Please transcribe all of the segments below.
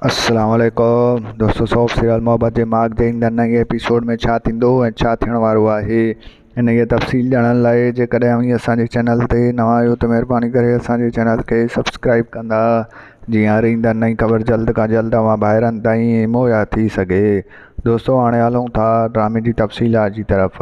السلام عليڪم دوستو سوف سيريل محبت جي ماڳ تي ايندڙ نئين ايپيسوڊ ۾ ڇا ٿيندو ۽ ڇا ٿيڻ وارو آهي انهيء جي تفصيل ڄاڻڻ لاء جيڪڏهن اوهين اسان جي چينل تي نوان آهيو ته مهرباني ڪري اسان جي چينل کي سبسڪرائيب ڪندا جيئن هر ايندڙ نئين خبر جلد کان جلد اوهان ڀائرن تائين مهيا ٿي سگهي دوستو هاڻي هلون ٿا ڊرامي جي تفصيلات جي طرف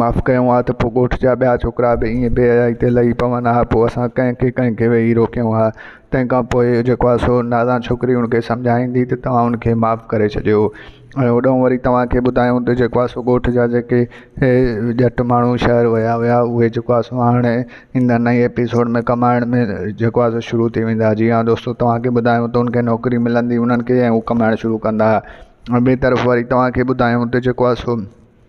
معاف ڪيون ها ته پوء ڳوٺ جا ٻيا ڇوڪرا به ائين بي حيائي تي لهي پون ها پوء اسان ڪنهن کي ڪنهن کي ويهي روڪيون ها تنهن کان پوء جيڪو آهي سو نادان ڇوڪري ان کي سمجهائيندي ته توهان ان کي معاف ڪري ڇڏيو ۽ هوڏانهن وري توهان کي ٻڌايون ته جيڪو آهي سو ڳوٺ جا جيڪي ڄٽ ماڻهو شهر ويا هيا اهي جيڪو آهي سو هاڻي ايندا نئين ايپيسوڊ ۾ ڪمائڻ ۾ جيڪو آهي سو شروع ٿي ويندا جي ها دوستو توهان کي ٻڌايون ته ان کي نوڪري ملندي انهن کي ۽ هو ڪمائڻ شروع ڪندا ۽ ٻي طرف وري توهان کي ٻڌايون ته جيڪو آهي سو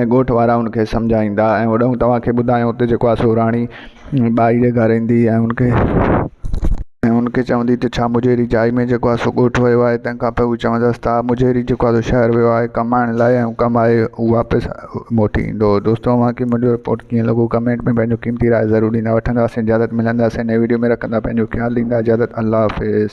۽ ڳوٺ وارا ان کي سمجهائيندا ۽ هوڏانهن توهان کي ٻڌايو ته جيڪو آ سو راڻي ٻائي جي گهر ايندي ۽ ان کي ۽ ان کي چوندي ته ڇا مجهيري جائي ۾ جيڪو آ سو ڳوٺ ويو آهي تنهن کان پوء هو چوندس ته آ مجهيري جيڪو آ سو شهر ويو آهي ڪمائڻ لاء ۽ ڪمائي هو واپس موٽي ايندو دوستو اوهان کي منهنجو رپورٽ ڪيئن لڳو ڪمينٽ ۾ پنهنجو قيمتي راء ضرور ڏيندا وٺنداسين اجازت ملنداسين نئين وڊيو ۾ رکندا پنهنجو خيال ڏيندا اجازت الله حافظ